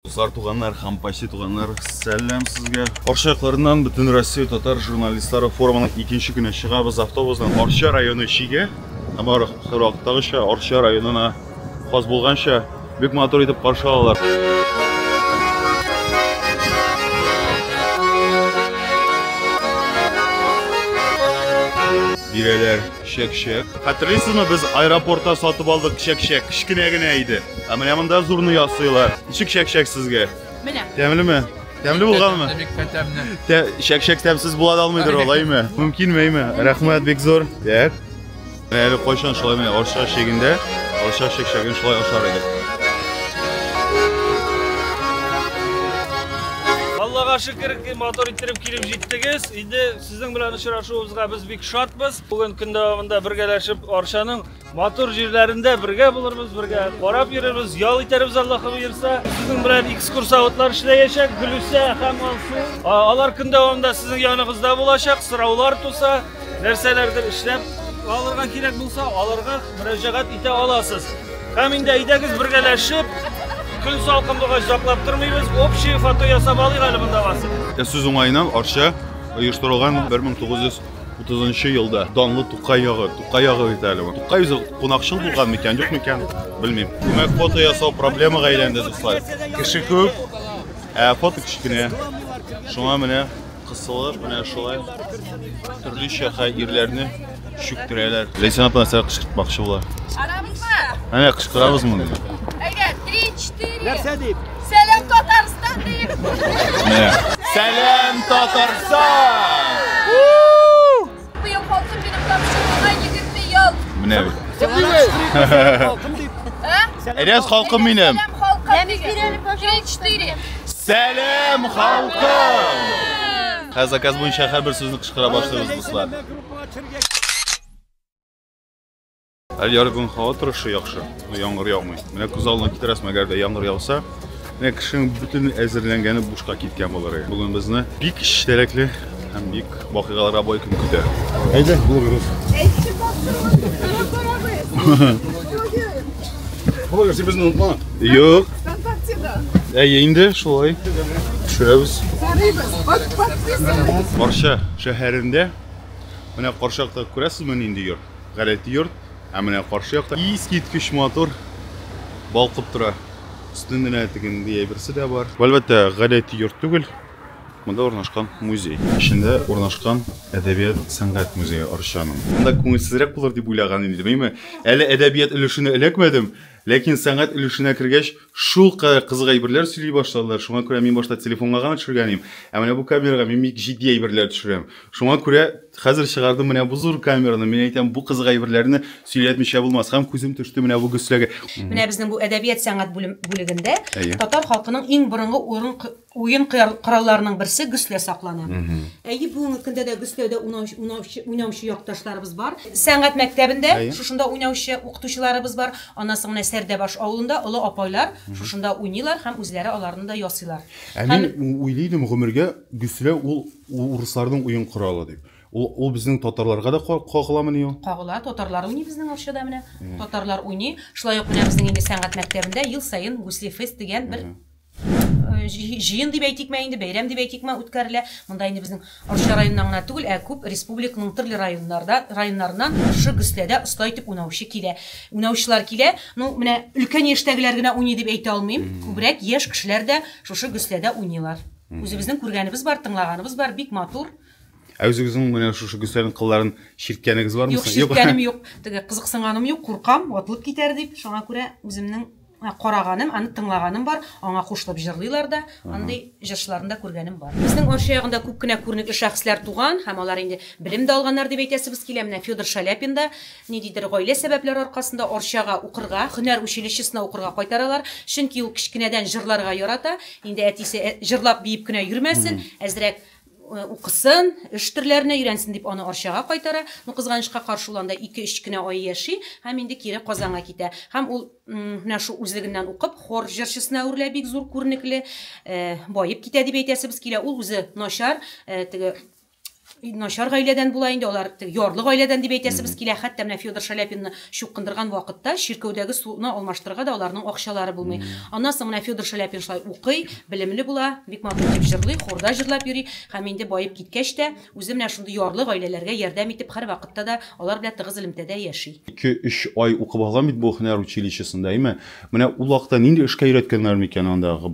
Дуслар, туганнар, хампаси туганнар, сәлам сезгә. Арча якларыннан бөтен Россия татар журналистлары форумының икенче көне чыгабыз автобусдан Арча районы чиге. Һәм аракытагыча Арча районына хас булганча бик матур итеп каршы алалар. Бирәләр. Чәк-чәк. Хәтерлисезме, без аэропортта сатып алдык чәк-чәк, кечкенә генә иде. Ә менә монда зурны ясыйлар. Ничек чәк-чәк сезгә? Менә. Тәмлеме? Тәмле булганмы? Бик тәмле. Тә, чәк-чәк тәмсез була да алмыйдыр ул, әйме? Мөмкинме, әйме? Рәхмәт бик зур. Так. Менә әле кайчан шулай менә арча чегендә, арча чәк-чәген шулай ашар идек. Аллага шөкер, матур иттереп килеп җиттегез. Инде Сезнең белән очрашуыбызга без бик шатбыз. Бүген көн дәвамында бергәләшеп Арчаның матур җирләрендә бергә булырбыз, бергә карап йөрербез, ял итәрбез Аллаһы боерса. Сезнең белән экскурсоводлар эшләячәк, Гөлүсә һәм Алсу. Алар көн дәвамында сезнең яныгызда булачак, сораулар туса, нәрсәләрдер эшләп алырга кирәк булса, аларга мөрәҗәгать итә аласыз. Һәм инде әйдәгез бергәләшеп көн салкынлыгы җаклап тормыйбыз, общее фото ясап алыйк әле монда барсын. Ә сүз уңаеннан Арча оештырылган 1930 елда данлы Тукай ягы, Тукай ягы бит әле бу. Тукай үзе кунакчыл булган микән, юк микән, белмим. Димәк, фото ясау проблемага әйләнде, дуслар. Кеше күп, ә фото кечкенә. Шуңа менә Кысылып, менә шулай төрлечә хәерләрне чүктерәләр. Ләйсән апа нәрсә кычкыртмакчы була? Арабызмы? Әнә кычкырабызмы? Әйдә, 3-4. Нәрсә дип? Сәлам Татарстан дип. Сәлам Татарстан! Быел халкым минем тапшыруына 20 ел. Менә бит. Әйдәс халкым минем. Сәлам халкым! Хәзер заказ буенча һәрбер сүзне кычкыра башлыйбыз, дуслар. Әле ярый бүгін һава торышы яхшы, яңгыр яумый. Менә күз алдына китерәсең, әгәр дә яңгыр яуса, менә кешенең бөтен әзерләнгәне бушка киткән булыр. Бүген безне бик чәрәкле һәм бик вакыйгалар абай көн көтә. Әйдә, булгырыз. Булгыр, син безне онытма. Юк. Әйе, инде шулай. Төшерәбез. Карша шәһәрендә менә Каршакта күрәсезме нинди йорт? Гадәти йорт, ә менә каршы якта искиткеч матур балкып тора. Өстенең генә тегендәй әйберсе дә бар. Бу, әлбәттә, гадәти йорт түгел, монда урнашкан музей. Эчендә урнашкан Әдәбият-сәнгать музее Арчаның. Монда күңелсезрәк булыр дип уйлаган идем, әйеме? Әле әдәбият өлешенә эләкмәдем, ләкин сәнгать өлешенә кергәч, шулкадәр кызык әйберләр сөйли башладылар, шуңа күрә мин башта телефонга гына төшергән идем, ә менә бу камерага мин бик җитди әйберләр төшерәм. Шуңа күрә. Хәзер чыгардым менә бу зур камераны. Мин әйтәм, бу кызык әйберләрне сөйләтмичә булмас. Һәм күзем төште менә бу гөсләгә. Менә безнең бу әдәбият сәнгать бүлегендә татар халкының иң борынгы уен коралларының берсе гөслә саклана. Әйе, бүгенге көндә дә гөсләүдә уйнаучы якташларыбыз бар. Сәнгать мәктәбендә шушында уйнаучы укытучыларыбыз бар. Аннан соң менә Сәрдәбаш авылында олы апайлар шушында уйныйлар һәм үзләре аларны да ясыйлар. Ә мин уйлый идем, гомергә гөсләү ул Ул урысларның уен коралы дип. Ул, ул безнең татарларга да кагыламыни ул? Кагыла, татарлар уйный безнең Арчада менә. Татарлар уйный. Шулай ук менә безнең инде сәнгать мәктәбендә ел саен Гусли фест дигән бер җыен дип әйтикме инде, бәйрәм дип әйтикме, үткәрелә. Монда инде безнең Арча районыннан гына түгел, ә күп республиканың төрле районнарда, районнарыннан шушы Гөсләдә оста итеп уйнаучы килә. Уйнаучылар килә. Ну, менә өлкән яшьтәгеләр генә уйный дип әйтә алмыйм. Күбрәк яшь кешеләр дә шушы Гөсләдә уйныйлар. Үзебезнең күргәнебез бар, тыңлаганыбыз бар, бик матур. Ә үзегезнең менә шушы Гөлсәрин кылларын ширткәнегез бармы? Юк, ширткәнем юк. Теге кызыксынганым юк, куркам, ватылып китәр дип. Шуңа күрә үземнең караганым, аны тыңлаганым бар, аңа кушылып җырлыйлар да, андый җырчыларны да күргәнем бар. Безнең Арча ягында күп кенә күренекле шәхесләр туган һәм алар инде белем дә алганнар дип әйтәсебез килә. Менә Федор Шаляпин да Ниндидер гаилә сәбәпләре аркасында Арчага укырга, һөнәр училищесына укырга кайтаралар. Чөнки ул кечкенәдән җырларга ярата. Инде әтисе, Җырлап, биеп кенә йөрмәсен, әзрәк укысын, эш төрләренә өйрәнсен, дип аны Арчага кайтара. Ну, кызганычка каршы, ул анда ике-өч кенә ай яши һәм инде кире Казанга китә. Һәм ул менә шул үзлегеннән укып, хор җырчысына әверелә, бик зур күренекле, баеп китә дип әйтәсебез килә. Ул үзе начар, теге, начар гаиләдән була инде алар ярлы гаиләдән дип әйтәсебез килә хәтта менә федор шаляпинны чукындырган вакытта чиркәүдәге суны алмаштырырга да аларның акчалары булмый аннан соң менә федор шаляпин шулай укый белемле була бик матур итеп җырлый хорда җырлап йөри һәм инде баеп киткәч тә үзе менә шундый ярлы гаиләләргә ярдәм итеп һәрвакытта да алар белән тыгыз элемтәдә яши ике-өч ай укып алган бит бу һөнәр училищесында, әйме? Менә ул вакытта нинди эшкә өйрәткәннәр микән андагы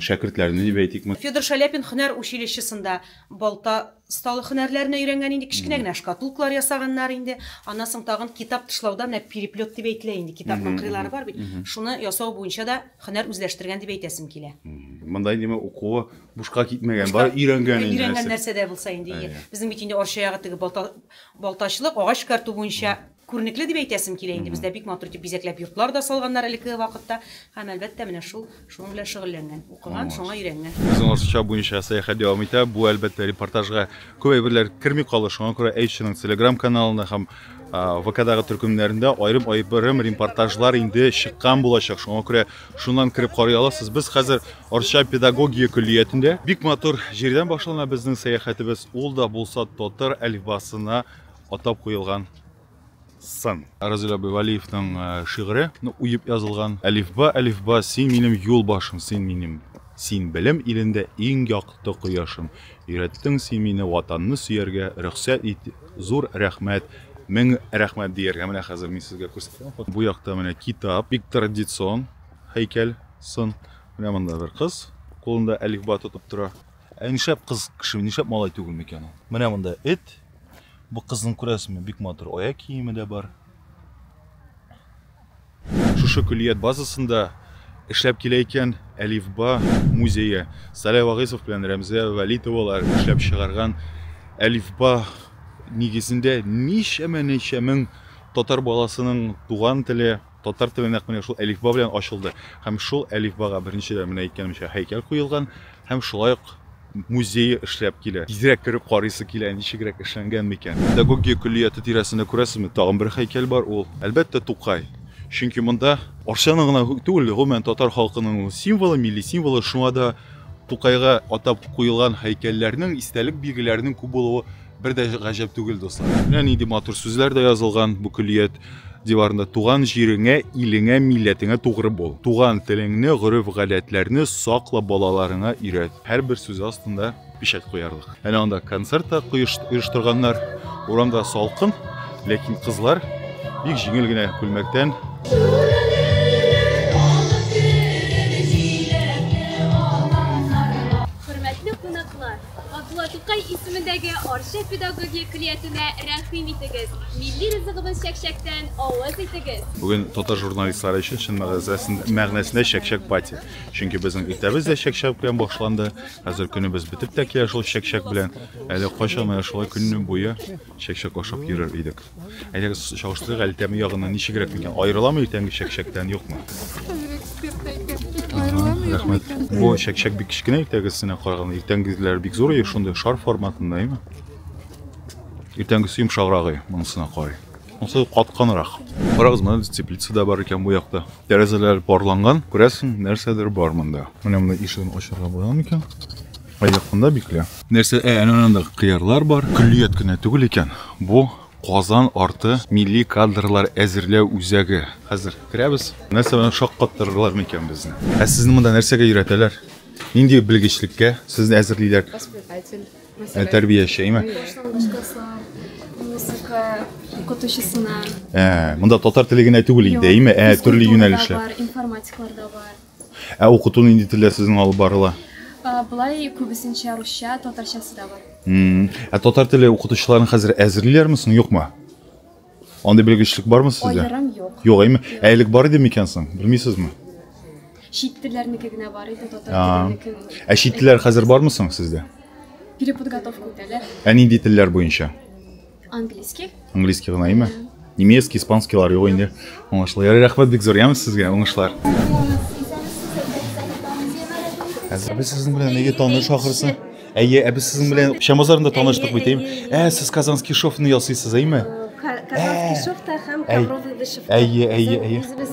шәкертләрне дип әйтикме? Федор Шаляпин һөнәр училищесында Балта осталык һөнәрләрен өйрәнгән инде, кечкенә генә шкатулкалар ясаганнар инде. Аннан соң тагын китап тышлауда менә переплет дип әйтелә инде, китапның кырыйлары бар бит, шуны ясау буенча да һөнәр үзләштергән дип әйтәсем килә. Монда инде менә укуы бушка китмәгән, бары өйрәнгән инде. Өйрәнгән нәрсә дә булса инде. Безнең бит инде Арча ягы теге балта, балтачлык, агач эшкәртү буенча Күренекле дип әйтәсем килә инде, бездә бик матур итеп бизәкләп йортлар да салганнар элеккеге вакытта, һәм әлбәттә менә шул шуның белән шөгыльләнгән, укыган, шуңа өйрәнгән. Үзең Арча буенча сәяхәт дәвам итә, бу әлбәттә репортажга күп әйберләр керми калды, шуңа күрә H-ның телеграм каналында һәм ВКдагы төркемнәрендә аерым-аерым репортажлар инде чыккан булачак, шуңа күрә шуннан кереп карый аласыз. Без хәзер Арча педагогия көллиятендә. Бик матур җирдән башлана безнең сәяхәтебез, ул да булса татар әлифбасына атап куелган сын. Разил абый Вәлиевның шигыре уеп язылган. Әлифба, әлифба, син минем юлбашым, син минем, син белем илендә иң якты кояшым. Өйрәттең син мине Ватанны сөяргә, рөхсәт ит, зур рәхмәт, мең рәхмәт дияргә. Менә хәзер мин сезгә күрсәтәм. Бу якта менә китап, бик традицион һәйкәл, сын. Менә монда бер кыз кулында әлифба тотып тора. Ә нишләп кыз кеше, нишләп малай түгел микән ул? Менә монда эт. Бу кызның күрәсеңме, бик матур аяк киеме дә бар. Шушы көллият базасында эшләп килә икән Әлифба музее. Саля Вагыйсов белән Рәмзә Вәлитовалар эшләп чыгарган Әлифба нигезендә ничәмә ничә мең татар баласының туган теле Татар теле нәкъ менә шул әлифба белән ачылды һәм шул әлифбага беренчедән менә әйткәнемчә һәйкәл куелган һәм шулай ук музее эшләп килә. Тизрәк кереп карыйсы килә, ничегрәк эшләнгән микән. Педагогия көллияте тирәсендә күрәсезме, тагын бер һәйкәл бар, ул, әлбәттә, Тукай. Чөнки монда Арчаның гына түгел, гомумән татар халкының ул символы, милли символы, шуңа да Тукайга атап куелган һәйкәлләрнең, истәлек билгеләренең күп булуы, Бер дә гаҗәп түгел, дуслар. Менә нинди матур сүзләр дә язылган бу көллият диварында. Туган җиреңә, илеңә, милләтеңә тугры бул. Туган телеңне, гореф-гадәтләрне сакла, балаларыңа өйрәт. Һәрбер сүз астында печать куярлык. Әнә анда концерт та оештырганнар. Урамда салкын, ләкин кызлар бик җиңел генә күлмәктән Хөрмәтле кунаклар, Габдулла Тукай исемендәге Арча педагогия көллиятенә рәхим итегез, милли ризыгыбыз чәкчәктән авыз итегез! Бүген татар журналистлары өчен чын мәгънәсендә чәкчәк пати. Чөнки безнең иртәбез дә чәкчәк белән башланды, хәзер көнебез бетеп тә килә шул чәкчәк белән. Әле кайчан менә шулай көн буе Чәкчәк ашап йөрер идек. Әйдәгез чагыштырыйк әле тәме ягыннан ничегрәк микән? Аерыламы иртәнге чәкчәктән, юкмы? Рәхмәт. Бу чәкчәк бик кечкенә иртәгесенә караганда. Иртәнгеләр бик зур, шундый шар форматында, әйме? Иртәнгесе йомшаграгы, монысына карый. Монысы катканрак. Карагыз, менә теплица да бар икән бу якта. Тәрәзәләр парланган, күрәсең, нәрсәдер бар монда. Менә монда ишеген ачарга була микән? Аякында бикле. Нәрсә, ә, әнә анда кыярлар бар. Көллият кенә түгел икән. Бу Казан арты милли кадрлар әзерләү үзәге. Хәзер керәбез. Нәрсә белән шаккаттырырлар микән безне? Ә сезне монда нәрсәгә өйрәтәләр? Нинди белгечлектә сезне әзерлиләр? Воспитатель. Ә, тәрбияче, әйме? Музыка укытучысына. Ә, монда татар теле генә түгел инде, әйме? Ә, төрле юнәлешләр. Информатиклар да бар. Ә укыту нинди телдә сезнең алып барыла? А, Болай күбесенчә русча, татарчасы да бар. М, Ә татар теле укытучыларын хәзер әзерлиләрме соң, юкмы? Андый белгечлек бармы сездә? Аерым юк. Юк, әйме? Ә элек бар иде микән соң? Белмисезме? Чит телләрнеке генә бар иде, татар А. теленекен. Ә чит телләр хәзер бармы соң сездә? Переподготовка үтәләр. Ә нинди телләр буенча? Английский. Английский гына име? Немецкий, испанский лар юк инде. Уңышлы. Ярый, рәхмәт бик зур, яме сезгә, уңышлар. Әбе сезнең белән нигә таныш ахырсы? Әйе, әбе сезнең белән Шамазарында таныштык бит, әйме? Ә, сез Казанский шовны ясыйсыз, әйме? Казанский шовта һәм ковровый вышивка. Әйе, әйе, әйе. Без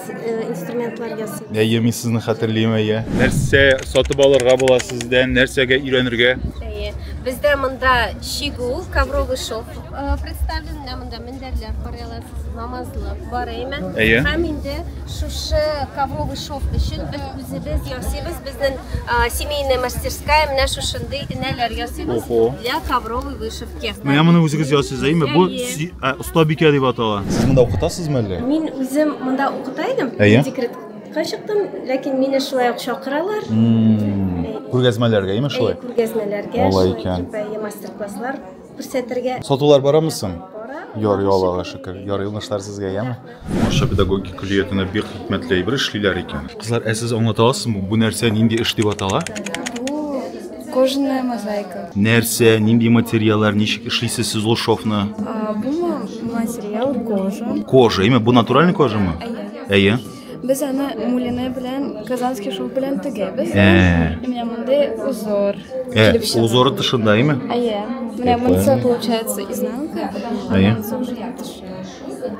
инструментлар ясыйбыз. Әйе, мин сезне хәтерлим, әйе. Нәрсә сатып алырга була сездән, нәрсәгә өйрәнергә? Әйе. Бездә монда Чигү, ковровый шов э, представлен, менә монда мендәрләр карый аласыз, намазлык бар әйме. Әйе. Һәм инде шушы ковровый шов өчен без үзебез ясыйбыз, безнең а, семейная мастерская менә шушындый энәләр ясыйбыз Охо. для ковровой вышивки. Менә моны үзегез ясыйсыз, әйме? Бу Әйе. си- ә, оста бикә дип атала. Сез монда укытасызмы әллә? Мин үзем монда укыта идем, Әйе. декрет Кайчыктым, ләкин мине шулай ук чакыралар. Күргәзмәләргә, яме шулай? Күргәзмәләргә, Алай икән. мастер-класслар күрсәтергә. Сатулар барамы соң? Яр ялыга шөкер. Яр юлнышлар сезгә, яме? Аша педагогик көллиятенә бик хикмәтле әйбер эшлиләр икән. Кызлар, ә сез аңлата аласызмы, бу нәрсә нинди эш дип атала? Кожаная мозаика. Нәрсә, нинди материаллар, ничек эшлисез сез ул шовны? Бу материал кожа. Кожа, яме? Бу натуральный кожамы? Әйе. Әйе. Без аны мулине белән, казанский шов белән тегәбез. Ә. Менә мондый узор. Э, килеп чыга. узоры тышында, име? Әйе. Менә Прикольно. монысы получается изнанка, а Әйе. монысы уже тышы.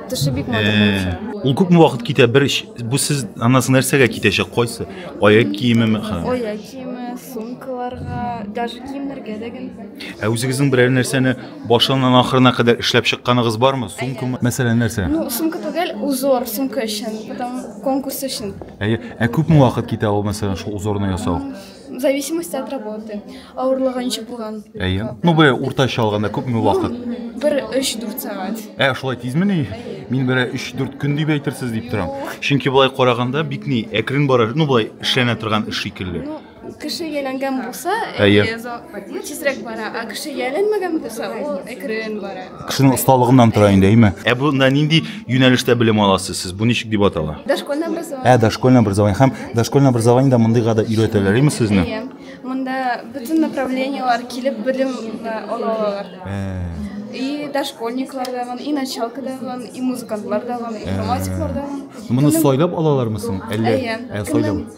Тышы бик матур Э, получается. Ул күпме вакыт китә? Бер ш- бу сез анасы нәрсәгә китәчәк? Кайсы? Аяк киемеме? Ха. Оя киеме, сумкаларга, даже киемнәргә дә генә. Ә үзегезнең берәр нәрсәне Башыннан ахырына кадәр эшләп чыкканыгыз бармы? Сумкамы? Мәсәлән, нәрсә? Ну, сумка түгел, узор, сумка өчен, потом конкурс өчен. Әйе, ә күпме вакыт китә ул, мәсәлән, шул узорны ясау? В зависимости от работы. Авырлыгы ничек булган. Әйе. Ну, бе, уртача алганда күпме вакыт? Бер 3-4 сәгать. Ә, шулай тизме ни? Мин бер 3-4 көн дип әйтерсез дип торам. Чөнки болай караганда бик ни әкрен бара, ну, болай эшләнә торган эш шикелле. Кеше әйләнгән булса, әйе, тизрәк бара, ә кеше әйләнмәгән булса, ул әкрен бара. Кешенең осталыгыннан тора инде, әйме? Ә бунда нинди юнәлештә белем аласыз сез? Бу ничек дип атала? Дошкольное образование. Ә, дошкольное образование һәм дошкольное образованиедә мондыйга да өйрәтәләр, әйме сезне? Әйе. Монда бөтен направлениелар килеп белем э, ала алалар. И дошкольниклар да бар, и началка да бар, и музыкантлар да бар, и информатиклар да бар. Моны сайлап алалармы соң? Әллә Әйе. Ә, сайлап.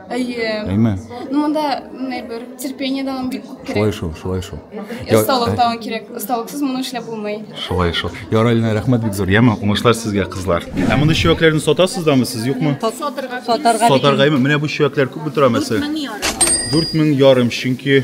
Әйе. Әйме? Ну, монда менә бер терпение да бик күп кирәк. Шулай шул, шулай шул. Осталык та кирәк. Осталыксыз моны эшләп булмый. Шулай шул. Яралина, рәхмәт бик зур. Яма, уңышлар сезгә, кызлар. Ә моны чөякләрне сатасыз дамы сез, юкмы? Сатарга. Сатарга. Сатарга. Менә бу чөякләр күп тора мәсәлән. 4000 ярым. 4000 ярым, чөнки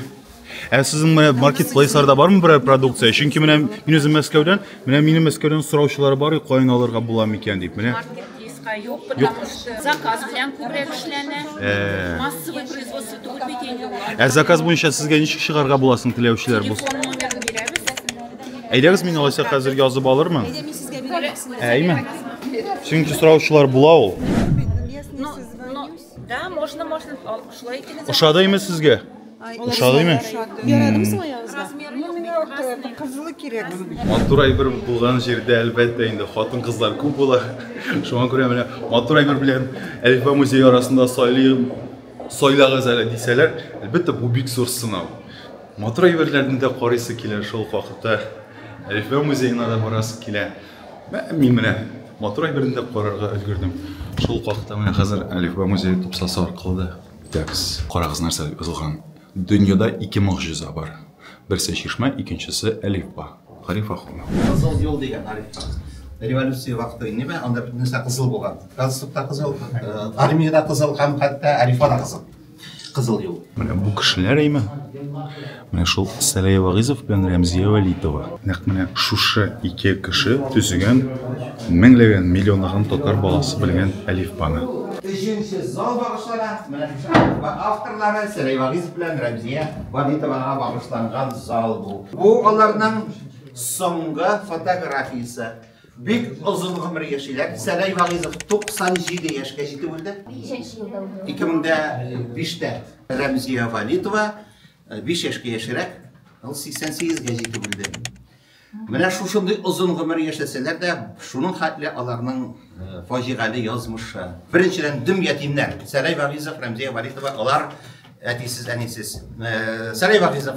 Ә сезнең менә маркетплейсларда бармы берәр продукция? Чөнки менә мин үзем Мәскәүдән, менә минем Мәскәүдән сораучылар бар, и, каян алырга була микән дип. Менә Маркетплейска юк, потому что заказ белән күбрәк эшләнә. Э. Массовый производство түгел бит инде ул. ә заказ буенча сезгә ничек чыгарга була соң теләүчеләр булса? Телефон номерын бирәбез. Әйдәгез мин алайса хәзер язып алырмын. Әйдә, мин сезгә бирәм. Әйме? Чөнки сораучылар була ул. Но, но Да, можно, можно. Алкышлай икән. Ошадымы сезгә? Ошадымы? Ярадым соң аягызга. Ну, миңа вот кызылы кирәк. Матур әйбер булган җирдә әлбәттә инде хатын-кызлар күп була. Шуңа күрә менә матур әйбер белән Әлифба музей арасында сайлыйм. Сайлагыз әле дисәләр, әлбәттә бу бик зур сынау. Матур әйберләрне дә карыйсы килә шул вакытта. Әлифба музеена да барасы килә. Мин менә матур әйберне дә карарга өлгердем. Шул хакта менә хәзер Әлифба музее тупсасы аркылы да үтәбез. Карагыз, нәрсә дип язылган. Дөньяда ике могҗиза бар. Берсе чишмә, икенчесе әлифба. Гариф Ахунов. Кызыл юл дигән Арифка. Революция вакыты инеме, анда бөтен нәрсә кызыл булган. Галстук та кызыл, армия дә кызыл һәм хәтта әлифба да кызыл. Кызыл юл. Менә бу кешеләр әйме. Менә шул Сәрәй Вагызов белән Рәмзия Вәлитова. Нәкъ менә шушы ике кеше төзегән меңләгән, миллионлаган татар баласы белгән әлифбаны. Өченче зал багышлана менә шушы әлифба авторлары Сәрәй Вагызов белән Рәмзия Вәлитовага багышланган зал бу. Бу аларның соңгы фотографиясе. Бик озын гомер яшиләр. Сәләй Вагыйзов 97 яшькә җитеп үлде. Ничәнче елда үлде? 2005-тә. Рәмзия Валитова 5 яшькә яшерәк, ул 88 гә җитеп үлде. Менә шушындый озын гомер яшәсәләр дә, шуның хәтле аларның фаҗигале язмышы. Беренчедән, дөм ятимнәр. Сәләй Вагыйзов, Рәмзия Валитова, алар Әтисез, әнисез. Э, Сәрәй Вагизов.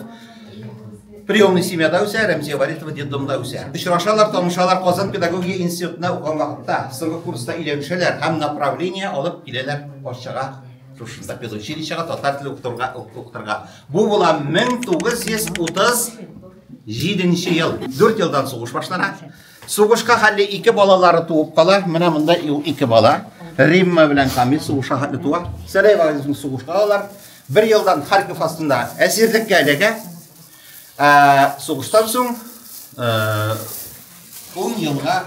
Приемный семьяда үсә, Рәмзия Варитова детдомда үсә. Очрашалар, танышалар Казан педагогия институтына укыган вакытта, соңгы курста өйләнешәләр һәм направление алып киләләр Арчага, шушында педучилищега татар теле укытырга укытырга. Бу була 1937 ел. 4 елдан сугыш башлана. Сугышка хәлле ике балалары туып кала. Менә монда ике бала. Римма белән Камил сугышка хәтле туа. Сәрәй вагызны сугышка алалар. Бер елдан Харьков астында әсирлеккә эләгә. Ә сугыштан соң 10 елга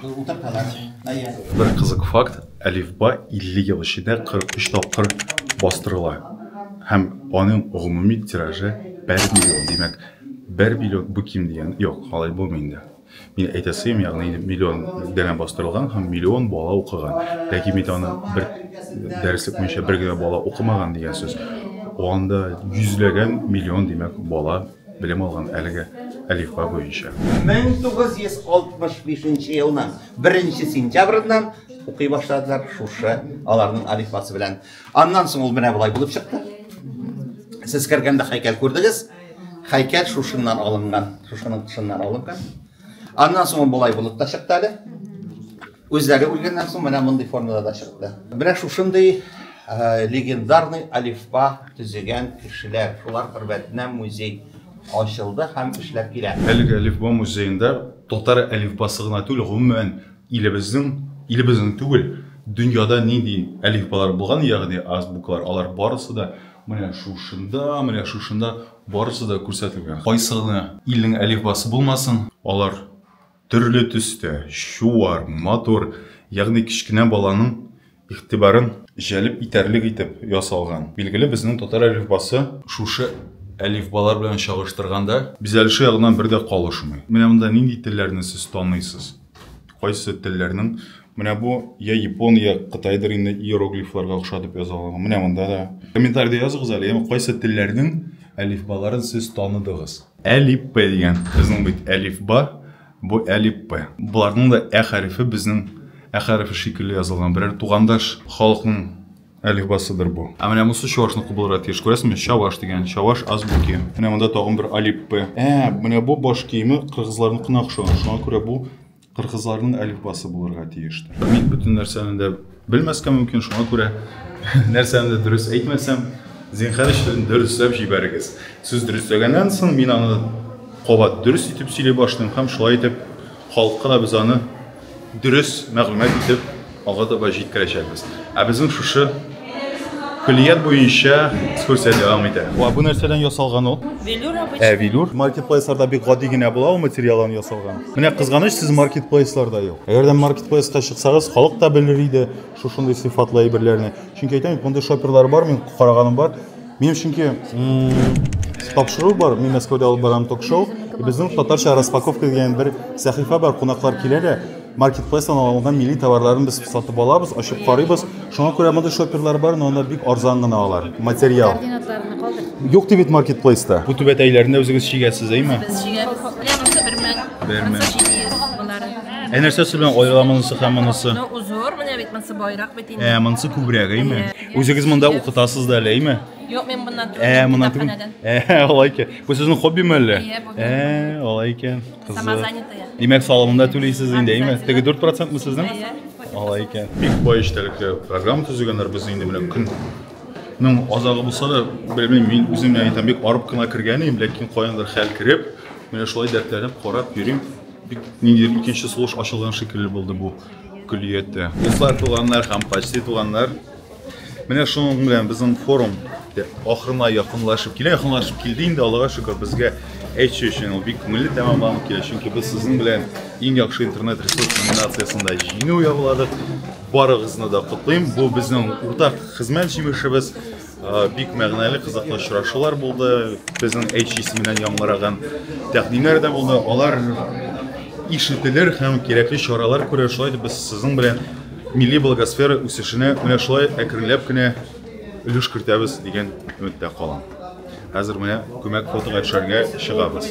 утырталар. Бер кызык факт, әлифба 50 ел эчендә 43 тапкыр бастырыла. Һәм аның гомуми тиражы 1 миллион, димәк, Бер билет бу ким дигән. Юк, алай булмый инде. Мин әйтәсем, ягъни миллион данә бастырылган һәм миллион бала укыган. Ләкин бит аны бер дәреслек буенча бер генә бала укымаган дигән сүз. Анда йөзләгән миллион, димәк, бала белем алган әлеге әлифба буенча. 1965 нче елның беренче сентябреннән укый башладылар шушы аларның әлифбасы белән. Аннан соң ул менә болай булып чыкты. Сез кергәндә хәйкәл күрдегез. Хәйкәл шушыннан алынган, шушының тышыннан алынган. Аннан соң ул болай булып та чыкты әле. Үзләре үлгәннән соң менә мондый формада да чыкты. Менә шушындый э, легендарный алифба төзегән кешеләр, шулар хөрмәтенә музей ачылды һәм эшләп килә. Әлеге алифба музеенда татар әлифбасы гына түгел, гомумән Илебезнең, илебезнең түгел, дөньяда нинди әлифбалар булган, ягъни азбуклар, алар барысы да менә шушында, менә шушында барысы да күрсәтелгән. Кайсы гына илнең әлифбасы булмасын, алар төрле төстә, чуар, матур, ягъни кечкенә баланың Игътибарын җәлеп итәрлек итеп ясалган. Билгеле, безнең татар әлифбасы шушы әлифбалар белән чагыштырганда бизәлеше ягыннан бер дә калышмый. Менә монда нинди телләрне сез таныйсыз? Кайсы телләрнең Менә бу я япон, я кытайдыр инде иероглифларга охша дип язалган. Менә монда да. Комментариядә языгыз әле, яме кайсы телләрнең әлифбаларын сез таныдыгыз? Әлифб дигән. Безнең бит әлифба Бу әлифбэ. Боларның да ә хәрефе безнең ә хәрефе шикелле язылган берәр тугандаш халыкның әлифбасыдыр бу. Ә менә монысы чуашныкы булырга тиеш. Күрәсезме? Чаваш дигән, чаваш азбуки. Менә монда тагын бер алифбэ. Ә, менә бу баш киеме кыргызларныкына охшаган. Шуңа күрә бу кыргызларның әлифбасы булырга тиештер. Мин бөтен нәрсәне дә Белмәскә мөмкин, шуңа күрә нәрсәне дөрес әйтмәсәм, зинхар өчен дөресләп җибәрегез. Сез дөресләгәннән соң мин аны кабат дөрес итеп сөйли башлыйм һәм шулай итеп халыкка да без аны дөрес мәгълүмат итеп алга таба җиткерәчәкбез. Ә безнең шушы көллият буенча экскурсия дәвам итә. Ва бу нәрсәдән ясалган ул? Велюр обычный. Ә велюр мультиплейсарда бик гади генә була ул материалдан ясалган. Менә кызганыч сез маркетплейсларда юк. Әгәр дә маркетплейска чыксагыз, халык та белер иде шушындый сыйфатлы әйберләрне. Чөнки әйтәм бит, мондый шоперлар бар, мин караганым бар. Минем чөнки тапшыру бар, мин Мәскәүдә алып барам ток-шоу. Безнең татарча распаковка дигән бер сәхифә бар, кунаклар килә дә, маркетплейстан алынган милли товарларын без сатып алабыз, ачып карыйбыз. Шуңа күрә мондый шоперлар бар, но алар бик арзан гына алар. Материал. Координатларны калдыр. Юк ди бит маркетплейста. Бу түбәтәйләрне үзегез чигәсез, әйме? Без чигәбез. Лә булса бер мең. Бер мең. Булса җиде йөз булары. Ә нәрсәсе белән аерыла монысы һәм монысы? Ну, узор менә бит монсы байрак бит инде. Ә, монысы күбрәк, әйме? Үзегез монда укытасыз да әле, әйме? Юк, мен моннан түгел. Ә, моннан түгел. Ә, алай икән. Бу сезнең хоббиме әллә? Иә, бу. Ә, алай икән. Димәк, салымын да түлисез инде, әйме? Теге 4 процентмы сезнең? Алай икән. Бик бай эчтәлекле программа төзегәннәр без инде менә көн Мин азагы булса да, белмим, мин үзем яны там бик арып кына кергән идем, ләкин каяндыр хәл кереп, менә шулай дәртләнеп карап йөрим. Бик ниндидер икенче сулыш ачылган шикелле булды бу көллияттә. Дуслар, туганнар һәм почти туганнар, Менә шуның белән безнең форум ахырына якынлашып килә, якынлашып килде инде, Аллага шөкер, безгә әйтү өчен ул бик күңелле тәмамланып килә, чөнки без сезнең белән иң яхшы интернет ресурс номинациясендә җиңү яуладык. Барыгызны да котлыйм. Бу безнең уртак хезмәт җимешебез. Бик мәгънәле, кызыклы очрашулар булды. Безнең әйтү исеменнән яңгыраган тәкъдимнәр дә булды. Алар ишетелер һәм кирәкле чаралар күрер. Шулай итеп без сезнең белән Милли благосфера үсешенә менә шулай әкренләп кенә өлеш кертәбез дигән өметтә калам. Хәзер менә күмәк фотога төшәргә чыгабыз.